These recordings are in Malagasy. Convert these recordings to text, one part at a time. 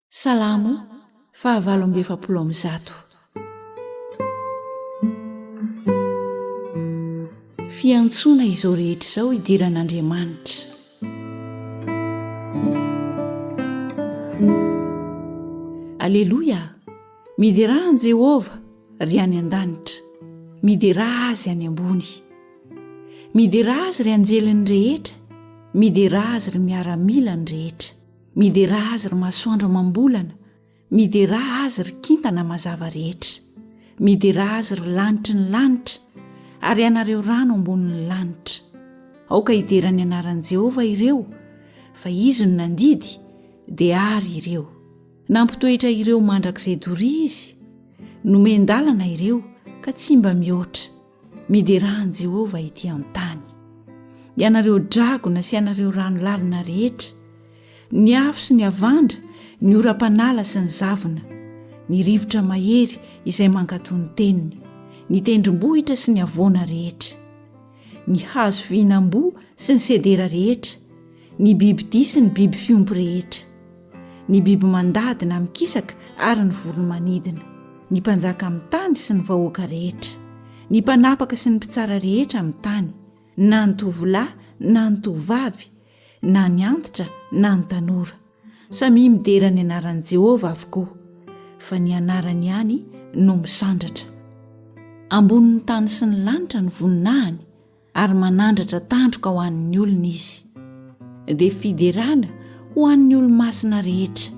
Salamo fahavalo amby efapolo amby zato. Fiantsoana izao rehetra izao hidiran'Andriamanitra. Aleloia! Miderà an'i Jehovah, ry any an-danitra, miderà azy any ambony. Miderà azy ry anjeliny rehetra, miderà azy ry miaramilany rehetra. Miderà azy ry masoandro amam-bolana, miderà azy ry kintana mazava rehetra, miderà azy ry lanitry ny lanitra, ary ianareo rano ambonin'ny lanitra. Aoka hidera ny anaran'i Jehovah ireo, fa izy no nandidy, dia àry ireo. Nampitoetra ireo mandrakizay doria izy, nomen-dalana ireo ka tsy mba mihoatra. Miderà an'i Jehovah etỳ an-tany, ianareo dragona sy ianareo rano lalina rehetra, ny afo sy ny havandra, ny oram-panala sy ny zavona, ny rivotra mahery izay mankatò ny teniny, ny tendrombohitra sy ny havoana rehetra, ny hazo fihinam-boa sy ny sedera rehetra, ny bibidia sy ny biby fiompy rehetra, ny biby mandady na mikisaka ary ny voromanidina, ny mpanjaka amin'ny tany sy ny vahoaka rehetra, ny mpanapaka sy ny mpitsara rehetra amin'ny tany, na ny tovolahy na ny tovovavy, na ny antitra na ny tanora. Samia midera ny anaran'i Jehovah avokoa, fa ny anarany ihany no misandratra. Ambonin'ny tany sy ny lanitra no voninahiny. ary manandratra tandroka ho an'ny olony izy, dia fiderana ho an'ny olo-masina rehetra,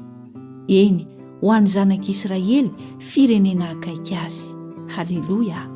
eny, ho an'ny zanak'Israely, firenena akaiky azy. Haleloia!